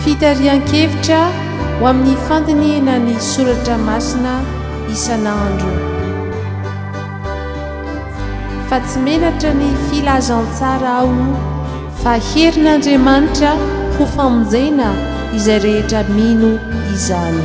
Fitarihan-kevitra ho amin'ny fandinihina ny soratra masina isan'andro. Fa tsy menatra ny filazantsara aho fa herin'Andriamanitra ho famonjena izay rehetra mino izany.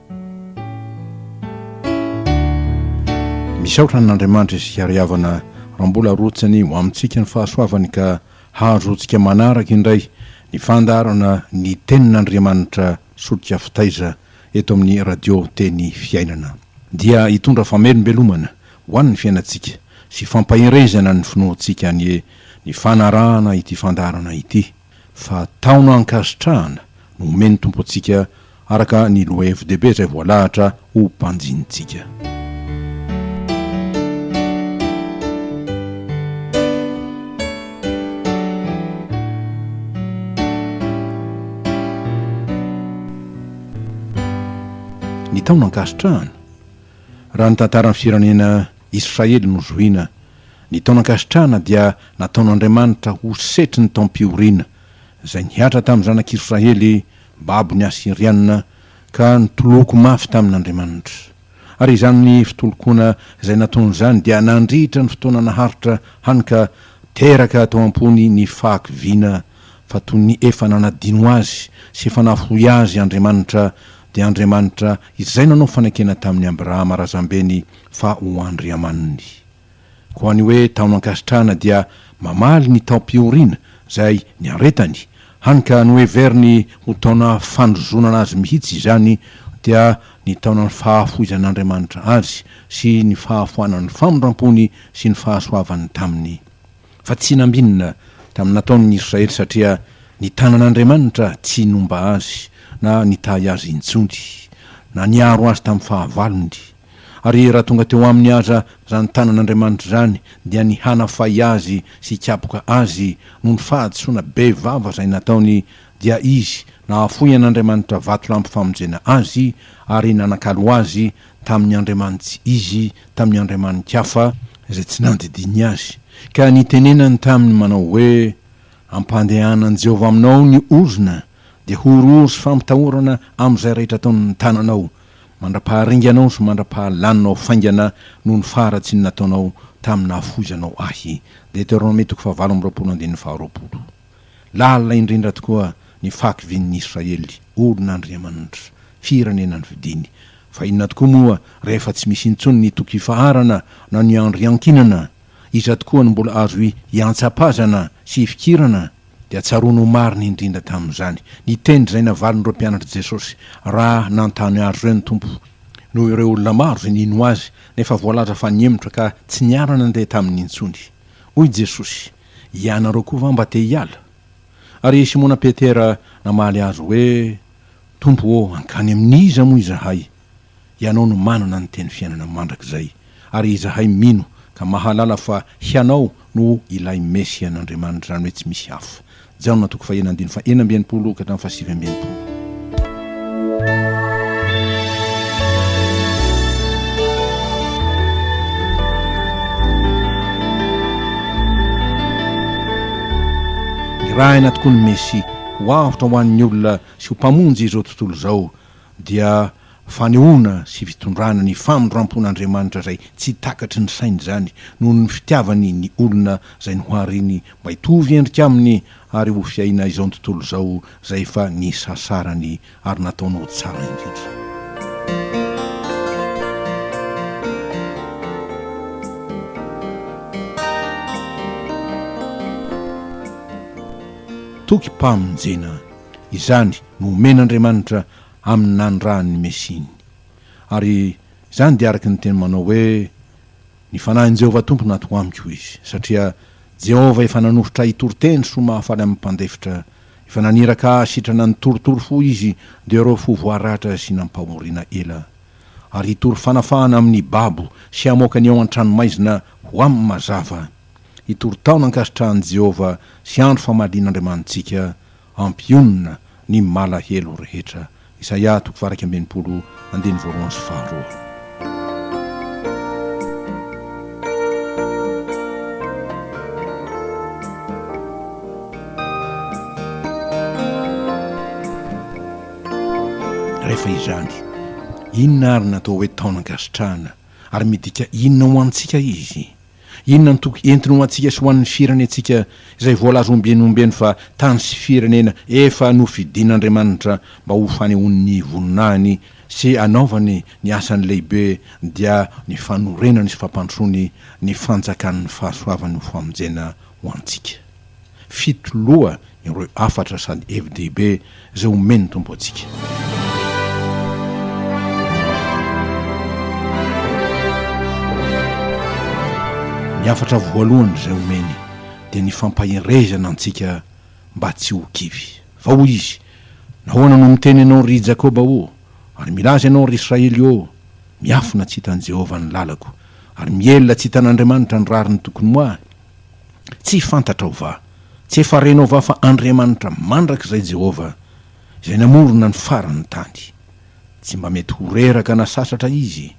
Misaotra an' Andriamanitra isika ry havana raha mbola arotsany ho amintsika ny fahasoavany ka hahazoantsika manaraka indray ny fandaharana ny tenin' Andriamanitra solika fitaiza eto amin'ny Radio Teny Fiainana. Dia hitondra famelombelomana ho an'ny fiainantsika sy fampaherezana ny finoantsika anie ny fanarahana ity fandaharana ity. fa taona ankasitrahana no omen'ny Tompo antsika araka ny lohahevi-dehibe izay voalahatra ho banjinintsika. Ny taona ankasitrahana, raha ny tantaran'ny firenena, Israely nozohina. Ny taonan-kasitrahana dia nataon'Andriamanitra ho setry ny taom-pihoriana, izay nihatra tamin'ny zanak'Israely babon'ny Asyrianina ka nitoloko mafy tamin'Andriamanitra. Ary izany fitolokoana izay nataony izany dia nandritra ny fotoana naharitra hany ka teraka tao am-pony ny fahakiviana fa toy ny efa nanadino azy sy efa nahoy azy Andriamanitra, dia Andriamanitra izay nanao fanekena tamin'i Abrahama razambeny fa ho Andriamaniny. Koa ny hoe taonan-kasitrahana dia mamaly ny taom-pihoriana, izay niaretany, hany ka noheveriny ho taona fandrozonana azy mihitsy izany, dia ny taonan'ny fahafoizan'Andriamanitra azy sy ny fahafoanan'ny famindram-pony sy ny fahasoavany taminy. fa tsy nambinina tamin'ny nataon'ny Israely satria ny tanan'Andriamanitra tsy nomba azy na nitahy azy intsony, na niaro azy tamin'ny fahavalony. Ary raha tonga teo aminy aza izany tanan'Andriamanitra izany dia ny hanafay azy sy hikapoka azy noho ny fahadisoana be vava izay nataony dia izy nahafoy an'Andriamanitra vatolampy famonjena azy ary nanakalo azy tamin'ny andriamanitsy izy tamin'ny andriamani-kafa izay tsy nandidiany azy, ka nitenenany taminy manao hoe, Ampandehanan'i Jehovah aminao ny ozona, dia horohoro sy fampitahorana amin'izay rehetra ataon'ny tananao, mandra-paharinganao sy mandra-pahalaninao faingana noho ny faharatsian'ny nataonao tamin'ny nahafoizanao ahy. Deteronomia toko fahavalo amby roapolo andininy faharoapolo. Lalina indrindra tokoa ny fahakivian'ny Israely, olon' Andriamanitra, firenena nofidiny. Fa inona tokoa moa rehefa tsy misy intsony ny toky ifaharana na ny andro iankinana? Iza tokoa no mbola azo iantsapazana sy ifikirana? Dia tsaroany ho marina indrindra tamin'izany ny teny izay navalin'ireo mpianatr'i Jesosy, Raha nanontany azy ireo ny Tompo, noho ireo olona maro izay nino Azy, nefa voalaza fa nihemotra ka tsy niara-nandeha taminy intsony. Hoy Jesosy. Ianareo koa va mba te hiala? Ary i Simona Petera namaly Azy hoe, Tompo ô, hankany amin'iza moa izahay? Hianao no manana ny teny fiainana mandrakizay, ary izahay mino ka mahalala fa Hianao no ilay Mesia an'Andriamanitra, izany hoe tsy misy hafa. Jaona toko faha enina andininy faha enina amby enimpolo ka hatramin'ny faha sivy amby enimpolo. Nirahina tokoa ny Mesia ho avotra ho an'ny olona sy ho Mpamonjy izao tontolo izao. dia fanehoana sy fitondrana ny famindrampon'Andriamanitra izay tsy takatry ny sainy izany noho ny fitiavany ny olona izay nohariny mba hitovy endrika aminy ary ho fiaina izao tontolo izao izay efa nisasarany ary nataony ho tsara indrindra. Toky mpamonjena izany nomen'Andriamanitra amin'ny nanirahany ny Mesiany. Ary izany dia araka ny teny manao hoe, Ny fanahin'i Jehovah Tompo no ato amiko, hoy izy. Satria Jehovah efa nanosotra ahy hitory teny soa mahafaly amin'ny mpandefitra, efa naniraka ahy hasitrana ny torotoro fo izy, dia ireo fo voaratra sy nampahorina ela. Ary hitory fanafahana amin'ny babo sy hamoaka ny ao an-tranomaizina ho amin'ny mazava. Hitory taona ankasitrahan'i Jehovah sy andro famalian'Andriamanitsika Ampionona ny malahelo rehetra. Isaia toko faha iraika amby enimpolo andininy voalohany sy faharoa. Rehefa izany, inona ary no atao hoe taona an-kasitrahana, ary midika inona ho antsika izy? Inona no toky entiny ho antsika sy ho an'ny firenentsika izay voalaza ombieny ombeny fa tany sy firenena efa nofidin'Andriamanitra mba ho fanehoan'ny voninahiny sy hanaovany ny asany lehibe dia ny fanorenany sy fampandrosoany ny fanjakan'ny fahasoavany ho famonjena ho antsika. Fito loha ireo hafatra sady hevi-dehibe izay omen'ny Tompo antsika. Ny hafatra voalohany izay omeny dia ny fampaherezana antsika mba tsy ho kivy. Fa hoy Izy, Nahoana no miteny ianao, ry Jakoba ô, ary milaza ianao, ry Israely ô, Miafina tsy hitan'i Jehovah ny lalako, ary mihelina tsy hitan'Andriamanitra ny rariny tokony ho ahy? Tsy fantatrao va? Tsy efa renao va fa Andriamanitra mandrakizay Jehovah, izay namorona ny faran'ny tany. Tsy mba mety ho reraka na sasatra Izy.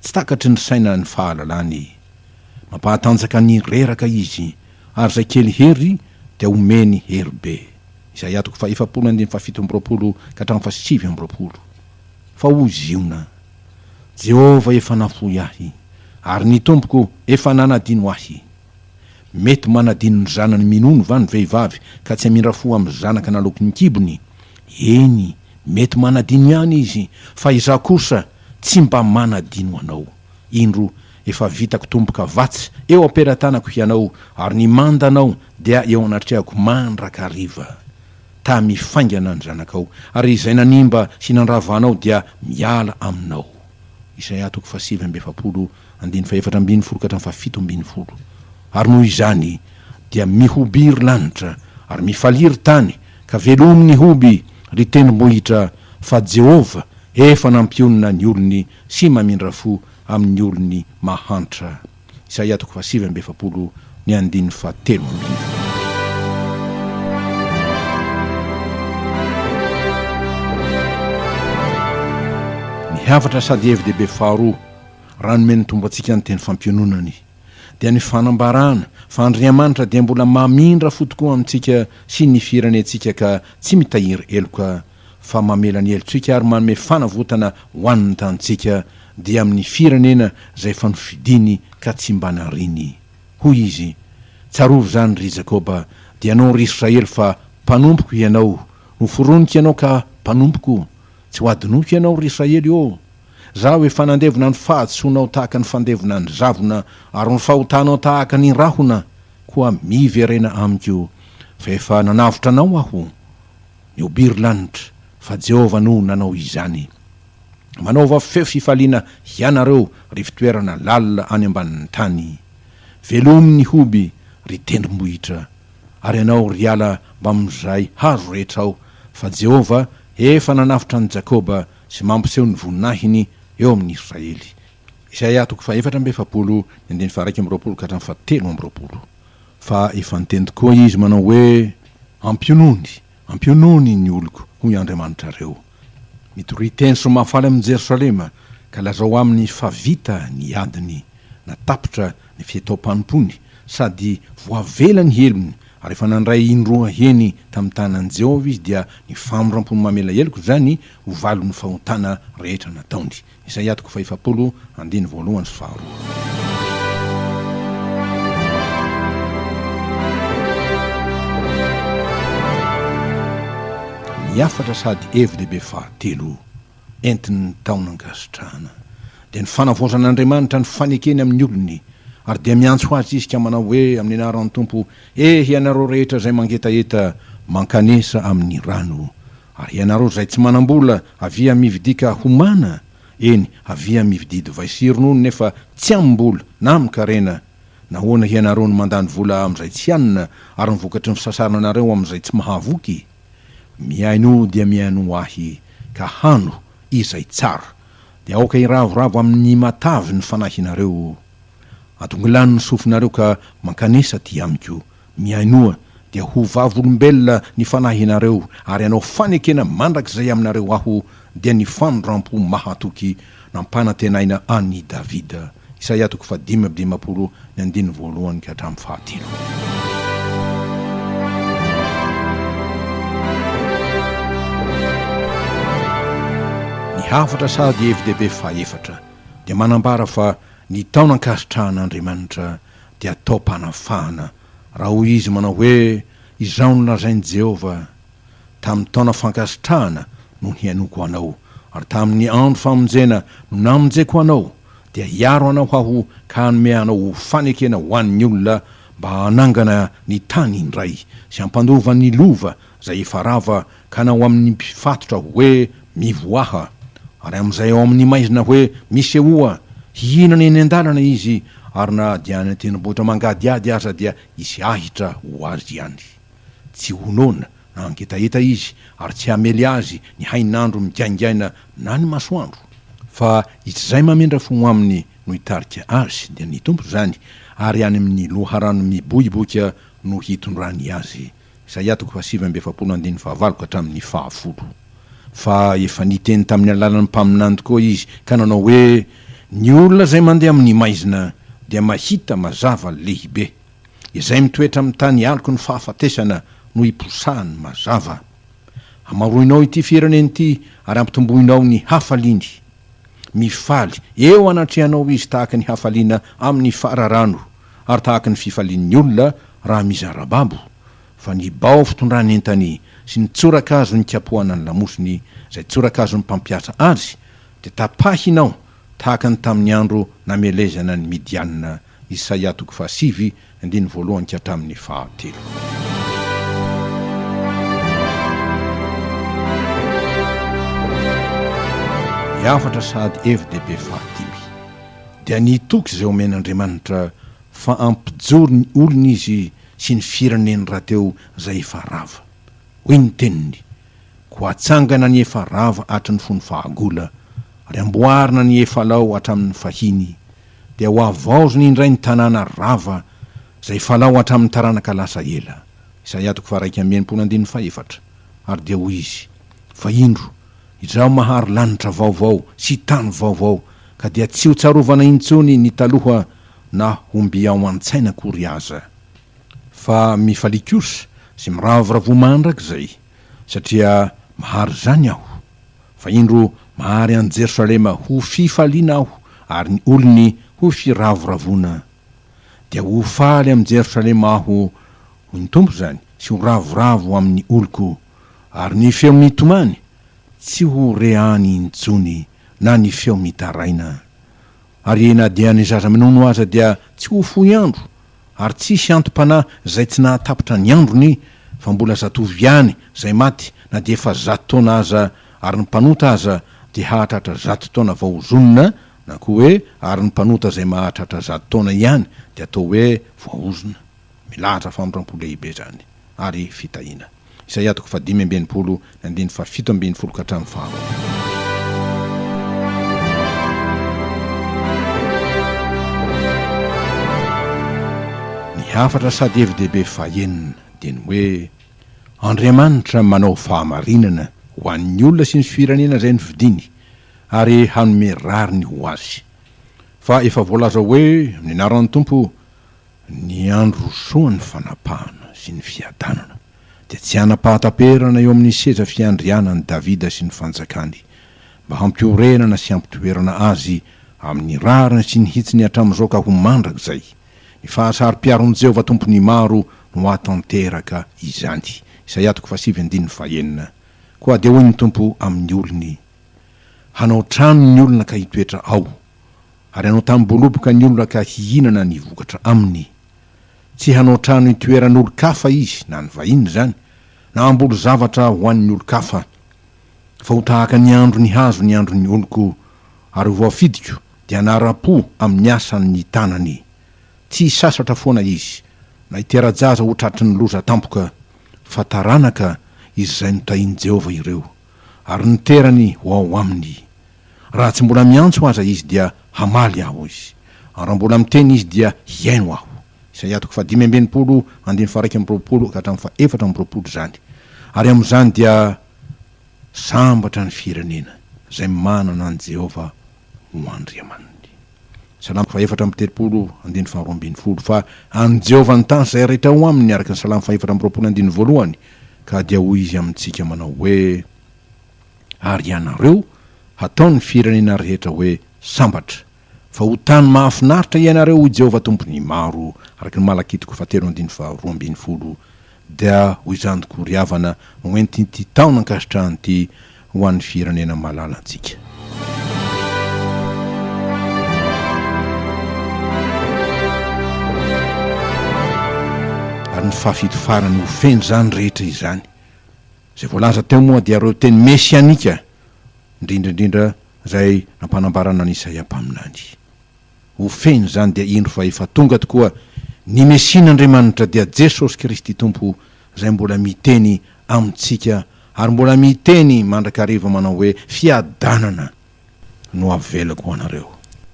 Tsy takatry ny saina ny fahalalany. Mampahatanjaka ny reraka Izy, ary izay kely hery dia omeny hery be. Isaia toko fahefapolo andininy fahafito amby roapolo ka hatramin'ny fahasivy amby roapolo. Fa hoy Ziona, Jehovah efa nafoy ahy, ary ny Tompoko efa nanadino ahy. Mety manadino ny zanany minono va ny vehivavy ka tsy hamindra fo amin'ny zanaka naloaky ny kibony? Eny, mety manadino ihany izy, fa Izaho kosa tsy mba manadino anao. Indro, efa vitako tombo-kavatsy eo am-pelatanako hianao, ary ny mandanao dia eo anatrehako mandrakariva. tamy faingana ny zanakao, ary izay nanimba sy nandrava anao dia miala aminao. Isaia toko fahasivy amby efapolo, andininy fahefatra ambin'ny folo ka hatramin'ny fahafito ambin'ny folo. Ary noho izany dia mihoby ry lanitra, ary mifalia ry tany, ka velomy ny hoby, ry tendrombohitra, fa Jehovah efa nampionona ny olony sy mamindra fo amin'ny olony mahantra. Isaia toko fahasivy amby efapolo ny andininy fahatelo amby efatra. Ny hafatra sady hevi-dehibe faharoa raha nomen'ny Tompo antsika ny teny fampiononany dia ny fanambarana fa Andriamanitra dia mbola mamindra fo tokoa amintsika sy ny firenentsika ka tsy mitahiry heloka fa mamela ny helotsika ary manome fanavotana ho an' ny tanintsika, dia amin' ny firenena izay efa nofidiny ka tsy mba nariny. Hoy Izy, Tsarovy izany, ry Jakoba, dia anao, ry Israely, fa mpanompoko hianao, noforoniko ianao ka mpanompoko, tsy ho adinoko hianao, ry Israely ô! Izaho efa nandevona ny fahadisoanao tahaka ny fandevona ny zavona ary ny fahotanao tahaka ny rahona, koa miverena amiko, fa efa nanavotra anao Aho. ny Obiry Lanitra, fa Jehovah no nanao izany. Manaova feo fifaliana hianareo, ry fitoerana lalina any ambanin'ny tany. Velomy ny hoby, ry tendrombohitra, ary ianao, ry ala, mbamin'izay hazo rehetra ao, fa Jehovah efa nanavotra an'i Jakoba sy mampiseho ny voninahiny eo amin'ny Israely. Isaia toko fahefatra amby efapolo, ny andininy faharaika amby roapolo ka hatramin'ny fahatelo amby roapolo. Fa efa niteny tokoa Izy manao hoe, Ampionony, ampionony ny oloko, hoy Andriamanitrareo. Mitoria teny sy mahafaly amin'i Jerosalema, ka lazao aminy fa vita ny adiny, na tapitra ny fihetao-panompony, sady voavela ny helony, ary efa nandray indroa heny tamin'ny tanan'i Jehovah izy, dia ny famindram-pony mamela heloka izany ho valon'ny fahotana rehetra nataony. Izay atoko fahefapolo andiny voalohany sy faharoa. Ny hafatra sady hevi-dehibe fahatelo entin'ny taona ankasitrahana dia ny fanavaozan'Andriamanitra ny fanekeny amin'ny olony, ary dia miantso azy Izy ka manao hoe amin'ny anaran'ny Tompo, Ehy ianareo rehetra izay mangetaheta mankanesa amin'ny rano Ary ianareo izay tsy manam-bola, avia mividika homana, eny, avia mividia divay sy ronono nefa tsy amim-bola, na amin-karena. Nahoana hianareo no mandany vola amin'izay tsy hanina, ary ny vokatry ny fisasarana anareo amin'izay tsy mahavoky? Mihainoa dia mihainoa Ahy, ka hano izay tsara, dia aoka hiravoravo amin'ny matavy ny fanahinareo. Adongilano ny sofinareo ka mankanesa aty Amiko, Mihainoa, dia ho vavolombelona ny fanahinareo, ary hanao fanekena mandrakizay aminareo Aho, dia ny fanondram-po mahatoky nampanantenaina an' i Davida. Isaia toko fahadimy amby dimampolo, ny andininy voalohany ka hatramin'ny fahatelo. Ny hafatra sady hevi-dehibe fahefatra dia manambara fa ny taona ankasitrahan' Andriamanitra dia atao mpanafahana, raha hoy izy manao hoe, Izao no lazain'i Jehovah, Tamin'ny taona fankasitrahana no nihainoako anao, ary tamin'ny andro famonjena no namonjeko anao, dia hiaro anao aho ka hanome anao ho fanekena ho an'ny olona mba hanangana ny tany indray, sy hampandova ny lova izay efa rava, ka na ho amin' ny mpifatotra hoe mivoaha, ary amin' izay ao amin' ny maizina hoe misehoa, hihinana eny an-dalana izy, ary na dia any an-tendrombohitra mangadihady aza dia hisy ahitra ho azy any. Tsy ho noana na hangetaheta izy, ary tsy hamely azy ny hain' andro migaingaina na ny masoandro, fa izy izay mamindra fo aminy no hitarika azy, dia ny Tompo izany, ary any amin' ny loharano miboiboika no hitondrany azy. Isaia toko fahasivy amby efapolo andininy fahavalo ka hatramin'ny fahafolo. Fa efa niteny tamin'ny alalan'ny mpaminany tokoa izy ka nanao hoe, Ny olona izay mandeha amin'ny maizina dia mahita mazava lehibe. Izay mitoetra amin'ny tany aloky ny fahafatesana no hiposahan'ny mazava. Hamaroinao ity firenena ity ary hampitomboinao ny hafaliany. Mifaly eo anatrehanao izy tahaka ny hafaliana amin'ny fararano, ary tahaka ny fifalian'ny olona raha mizara babo, fa ny bao fitondrany entany sy ny tsorakazo nikapohana ny lamosiny izay tsorakazon'ny mpampiasa azy dia tapahina ao tahaka ny tamin'ny andro namelezana an'i Midiana, Isaia toko fahasivy, andininy voalohany ka hatramin'ny fahatelo. Ny hafatra sady FDB fahadimy. dia nitoky izay omen'Andriamanitra fa hampijoro ny olony izy sy ny fireneny rahateo izay efa rava. Hoy ny teniny, Koa hatsangana ny efa rava hatry ny fony fahagola, ary hamboarina ny efa lao hatramin'ny fahiny, dia hohavaozina indray ny tanàna rava izay efa lao hatramin'ny taranaka lasa ela. Isaia toko faharaika amby enimpolo andininy fahefatra Ary dia hoy izy, Fa indro, izaho mahary lanitra vaovao sy tany vaovao, ka dia tsy ho tsarovana intsony ny taloha na homby ao an-tsaina akory aza. Fa mifalia kosa sy miravoravoa mandrakizay, satria mahary izany aho. Fa indro mahary an'i Jerosalema ho fifaliana aho ary ny olony ho firavoravoana. Dia ho faly amin'i Jerosalema aho, hoy ny Tompo izany, sy ho ravoravo amin'ny oloko, ary ny feo mitomany tsy ho re any intsony na ny feo mitaraina. Ary na dia ny zaza-minono aza dia tsy ho fohy andro, ary tsisy anti-panahy zay tsy nahatapitra ny androny, fa mbola zatovo ihany zay maty na dia efa zato taona aza, ary ny mpanota aza dia hahatratra zato taona vao ho zonona, na koa hoe ary ny mpanota zay mahatratra zato taona ihany dia atao hoe voahozona. Milahatra famindram-po lehibe izany ary fitahiana. Isaia toko fahadimy amby enimpolo, ny andininy fahafito ambin'ny folo ka hatramin'ny faharoapolo. Ny hafatra sady hevi-dehibe fahenina dia ny hoe, Andriamanitra manao fahamarinana ho an'ny olona sy ny firenena izay nofidiny, ary hanome rariny ho azy. Fa efa voalaza hoe, Amin'ny anaran'ny Tompo, Ny andro rosoan'ny fanapahana sy ny fiadanana dia tsy hanam-pahataperana eo amin'ny seza fiandrianan'i Davida sy ny fanjakany, mba hampiorenana sy hampitoerana azy amin'ny rariny sy ny hitsiny hatramin'izao ka ho mandrakizay. Ny fahasaro-piaron'i Jehovah Tompon'ny maro no hahatanteraka izany. Isaia toko fahasivy andininy fahenina, Koa dia hoy ny Tompo amin'ny olony, Hanao trano ny olona ka hitoetra ao, ary hanao tamim-boloboka ny olona ka hihinana ny vokatra aminy. Tsy hanao trano hitoeran'olon-kafa izy, na ny vahiny izany, na hamboly zavatra ho an'ny olon-kafa. Fa ho tahaka ny andron'ny hazo ny andron'ny oloko, ary ho voafidiko, dia hanara-po amin'ny asan'ny tanany. Tsy hisasatra foana izy, na hitera-jaza ho tratry ny loza tampoka, fa taranaka izay notahin'i Jehovah ireo. ary niterany ho ao aminy. Raha tsy mbola miantso aza izy dia hamaly aho, hoy izy, ary raha mbola miteny izy dia hihaino aho. Isaia toko fahadimy amby enimpolo, andininy faha-iraika amby roapolo ka hatramin'ny faha-efatra amby roapolo izany. Ary amin'izany dia sambatra ny firenena izay manana an'i Jehovah ho Andriamaniny. Salamo fahefatra amby telopolo, andininy faharoa ambin'ny folo, Fa an'i Jehovah ny tany sy izay rehetra ao aminy, araka ny Salamo fahefatra amby roapolo andininy voalohany, ka dia hoy izy amintsika manao hoe, Ary ianareo, hataon'ny firenena rehetra hoe sambatra, fa ho tany mahafinaritra ianareo, hoy Jehovah Tompon'ny maro, araka ny Malakitoko fahatelo andininy faharoa ambin'ny folo. Dia ho izany tokoa ry havana no entin'ity taona ankasitrahana ity ho an'ny firenena malala antsika. Ary ny fahafito farany ho feno izany rehetra izany. Izay voalaza teo moa dia ireo teny mesianika, indrindra indrindra izay nampanambarana an'i Isaia mpaminany. Ho feno izany dia indro fa efa tonga tokoa ny Mesian'Andriamanitra dia Jesosy Kristy Tompo izay mbola miteny amintsika ary mbola miteny mandrakariva manao hoe fiadanana no avelako ho anareo,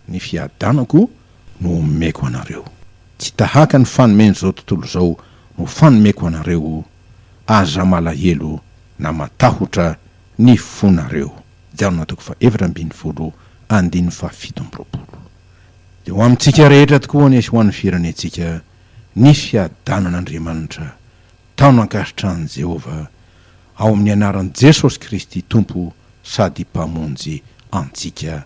ny fiadanako no omeko anareo. Tsy tahaka ny fanomen'izao tontolo izao no fanomeko anareo, aza malahelo na matahotra ny fonareo. Jalona toko fahefatra ambin'ny folo andininy fahafito amby roapolo Dia ho amintsika rehetra tokoa anie sy ho an'ny firenentsika ny fiadanan'Andriamanitra taona ankasitrahan'i Jehovah ao amin'ny anaran'i Jesosy Kristy Tompo sady Mpamonjy antsika.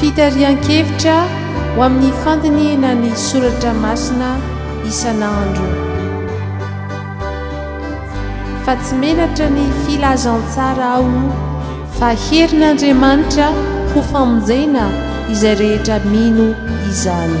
Fitarihan-kevitra ho amin'ny fandinihina ny soratra masina isan'andro. Fa tsy menatra ny filazantsara aho fa herin'Andriamanitra ho famonjena izay rehetra mino izany.